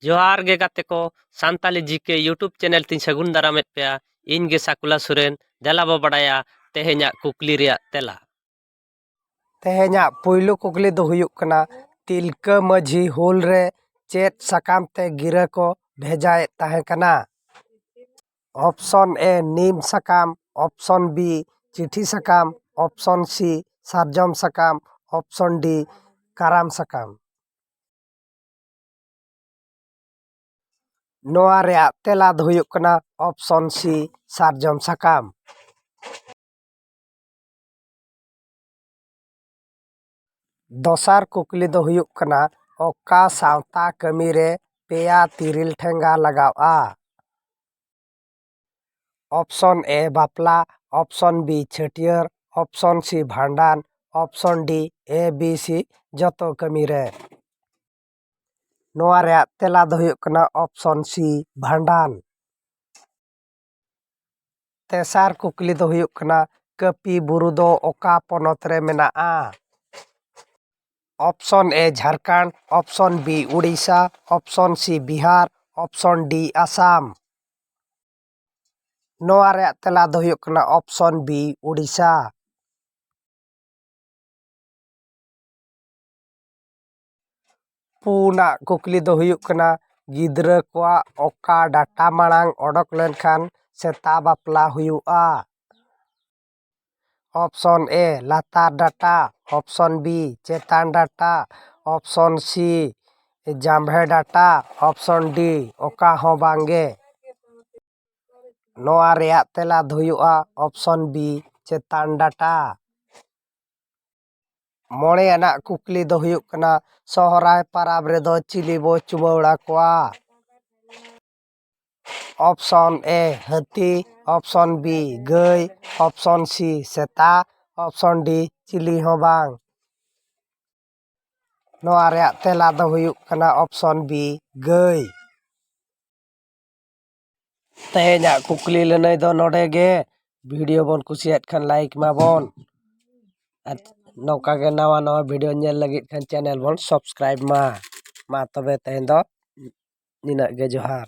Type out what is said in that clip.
ᱡᱚᱦᱟᱨ ᱜᱮ ᱜᱟᱛᱮ ᱠᱚ ᱥᱟᱱᱛᱟᱞᱤ ᱡᱤ ᱠᱮ ᱤᱭᱩᱴᱩᱵᱽ ᱪᱮᱱᱮᱞ ᱛᱤᱧ ᱥᱟᱹᱜᱩᱱ ᱫᱟᱨᱟᱢᱮᱫ ᱯᱮᱭᱟ ᱤᱧ ᱜᱮ ᱥᱟᱠᱩᱞᱟ ᱥᱚᱨᱮᱱ ᱫᱮᱞᱟ ᱵᱚ ᱵᱟᱰᱟᱭᱟ ᱛᱮᱦᱮᱧᱟᱜ ᱠᱩᱠᱞᱤ ᱨᱮᱭᱟᱜ ᱛᱮᱞᱟ ᱛᱮᱦᱮᱧᱟᱜ ᱯᱩᱭᱞᱩ ᱠᱩᱠᱞᱤ ᱫᱚ ᱦᱩᱭᱩᱜ ᱠᱟᱱᱟ ᱛᱤᱞᱠᱟᱹ ᱢᱟᱹᱡᱷᱤ ᱦᱩᱞ ᱨᱮ ᱪᱮᱫ ᱥᱟᱠᱟᱢ ᱛᱮ ᱜᱤᱨᱟᱹ ᱠᱚ ᱵᱷᱮᱡᱟᱭᱮᱫ ᱛᱟᱦᱮᱸ ᱠᱟᱱᱟ ᱚᱯᱷᱥᱚᱱ ᱮ ᱱᱤᱢ ᱥᱟᱠᱟᱢ ᱚᱯᱷᱥᱚᱱ ᱵᱤ ᱪᱤᱴᱷᱤ ᱥᱟᱠᱟᱢ ᱚᱯᱷᱥᱚᱱ ᱥᱤ ᱥᱟᱨᱡᱚᱢ ᱥᱟᱠᱟᱢ ᱚᱯᱷᱥᱚᱱ ᱰᱤ ᱠᱟᱨᱟᱢ ᱥᱟᱠᱟᱢ ᱱᱚᱣᱟ ᱨᱮᱭᱟᱜ ᱛᱮᱞᱟ ᱫᱚ ᱦᱩᱭᱩᱜ ᱠᱟᱱᱟ ᱚᱯᱥᱚᱱ ᱥᱤ ᱥᱟᱨᱡᱚᱢ ᱥᱟᱠᱟᱢ ᱫᱚᱥᱟᱨ ᱠᱩᱠᱞᱤ ᱫᱚ ᱦᱩᱭᱩᱜ ᱠᱟᱱᱟ ᱚᱠᱟ ᱥᱟᱶᱛᱟ ᱠᱟᱹᱢᱤ ᱨᱮ ᱯᱮᱭᱟ ᱛᱤᱨᱤᱞ ᱴᱷᱮᱸᱜᱟ ᱞᱟᱜᱟᱜᱼᱟ ᱚᱯᱥᱚᱱ ᱮ ᱵᱟᱯᱞᱟ ᱚᱯᱥᱚᱱ ᱵᱤ ᱪᱷᱟᱹᱴᱭᱟᱹᱨ ᱚᱯᱥᱚᱱ ᱥᱤ ᱵᱷᱟᱸᱰᱟᱱ option D A B C ᱡᱚᱛᱚ ᱠᱟᱹᱢᱤ ᱨᱮ ᱱᱚᱣᱟ ᱨᱮᱭᱟᱜ ᱛᱮᱞᱟ ᱫᱚ ᱦᱩᱭᱩᱜ ᱠᱟᱱᱟ ᱚᱯᱥᱚᱱ ᱥᱤ ᱵᱷᱟᱸᱰᱟᱱ ᱛᱮᱥᱟᱨ ᱠᱩᱠᱞᱤ ᱫᱚ ᱦᱩᱭᱩᱜ ᱠᱟᱱᱟ ᱠᱟᱹᱯᱤ ᱵᱩᱨᱩ ᱫᱚ ᱚᱠᱟ ᱯᱚᱱᱚᱛ ᱨᱮ ᱢᱮᱱᱟᱜᱼᱟ option A Jharkhand option B Odisha option C Bihar option D Assam ᱱᱚᱣᱟ ᱨᱮᱭᱟᱜ ᱛᱮᱞᱟ ᱫᱚ ᱦᱩᱭᱩᱜ ᱠᱟᱱᱟ ᱚᱯᱥᱚᱱ ᱵᱤ ᱳᱰᱤᱥᱟ ᱯᱩᱱᱟᱜ ᱠᱩᱠᱞᱤ ᱫᱚ ᱦᱩᱭᱩᱜ ᱠᱟᱱᱟ ᱜᱤᱫᱽᱨᱟᱹ ᱠᱚᱣᱟᱜ ᱚᱠᱟ ᱰᱟᱴᱟ ᱢᱟᱲᱟᱝ ᱚᱰᱚᱠ ᱞᱮᱱᱠᱷᱟᱱ ᱥᱮᱛᱟ ᱵᱟᱯᱞᱟ ᱦᱩᱭᱩᱜᱼᱟ ᱚᱯᱷᱥᱚᱱ ᱮ ᱞᱟᱛᱟᱨ ᱰᱟᱴᱟ ᱚᱯᱷᱥᱚᱱ ᱵᱤ ᱪᱮᱛᱟᱱ ᱰᱟᱴᱟ ᱚᱯᱷᱥᱚᱱ ᱥᱤ ᱡᱟᱢᱵᱷᱮ ᱰᱟᱴᱟ ᱚᱯᱷᱥᱚᱱ ᱰᱤ ᱚᱠᱟ ᱦᱚᱸ ᱵᱟᱝ ᱜᱮ ᱱᱚᱣᱟ ᱨᱮᱭᱟᱜ ᱛᱮᱞᱟ ᱫᱚ ᱦᱩᱭᱩᱜᱼᱟ ᱚᱯᱷᱥᱚᱱ ᱵᱤ ᱪᱮᱛᱟᱱ ᱰᱟᱴᱟ ᱢᱚᱬᱮ ᱟᱱᱟᱜ ᱠᱩᱠᱞᱤ ᱫᱚ ᱦᱩᱭᱩᱜ ᱠᱟᱱᱟ ᱥᱚᱦᱚᱨᱟᱭ ᱯᱚᱨᱚᱵᱽ ᱨᱮᱫᱚ ᱪᱤᱞᱤ ᱵᱚᱱ ᱪᱩᱢᱟᱹᱲᱟ ᱠᱚᱣᱟ ᱚᱯᱷᱥᱚᱱ ᱮ ᱦᱟᱹᱛᱤ ᱚᱯᱷᱥᱚᱱ ᱵᱤ ᱜᱟᱹᱭ ᱚᱯᱷᱥᱚᱱ ᱥᱤ ᱥᱮᱛᱟ ᱚᱯᱷᱥᱚᱱ ᱰᱤ ᱪᱤᱞᱤ ᱦᱚᱸ ᱵᱟᱝ ᱱᱚᱣᱟ ᱨᱮᱭᱟᱜ ᱛᱮᱞᱟ ᱫᱚ ᱦᱩᱭᱩᱜ ᱠᱟᱱᱟ ᱚᱯᱷᱥᱚᱱ ᱵᱤ ᱜᱟᱹᱭ ᱛᱮᱦᱮᱧᱟᱜ ᱠᱩᱠᱞᱤ ᱞᱟᱹᱱᱟᱹᱭ ᱫᱚ ᱱᱚᱰᱮ ᱜᱮ ᱵᱷᱤᱰᱭᱳ ᱵᱚᱱ ᱠᱩᱥᱤᱭᱟᱜ ᱠᱷᱟᱱ ᱞᱟᱭᱤᱠ ᱮᱢᱟᱵᱚᱱ ᱟᱨ ᱱᱚᱝᱠᱟ ᱜᱮ ᱱᱟᱣᱟ ᱱᱟᱣᱟ ᱵᱷᱤᱰᱭᱳ ᱧᱮᱞ ᱞᱟᱹᱜᱤᱫ ᱠᱷᱟᱱ ᱪᱮᱱᱮᱞ ᱵᱚᱱ ᱥᱟᱵᱥᱠᱨᱟᱭᱤᱵᱽ ᱢᱟ ᱢᱟ ᱛᱚᱵᱮ ᱛᱮᱦᱮᱧ ᱫᱚ ᱱᱤᱱᱟᱹᱜ ᱜᱮ ᱡᱚᱦᱟᱨ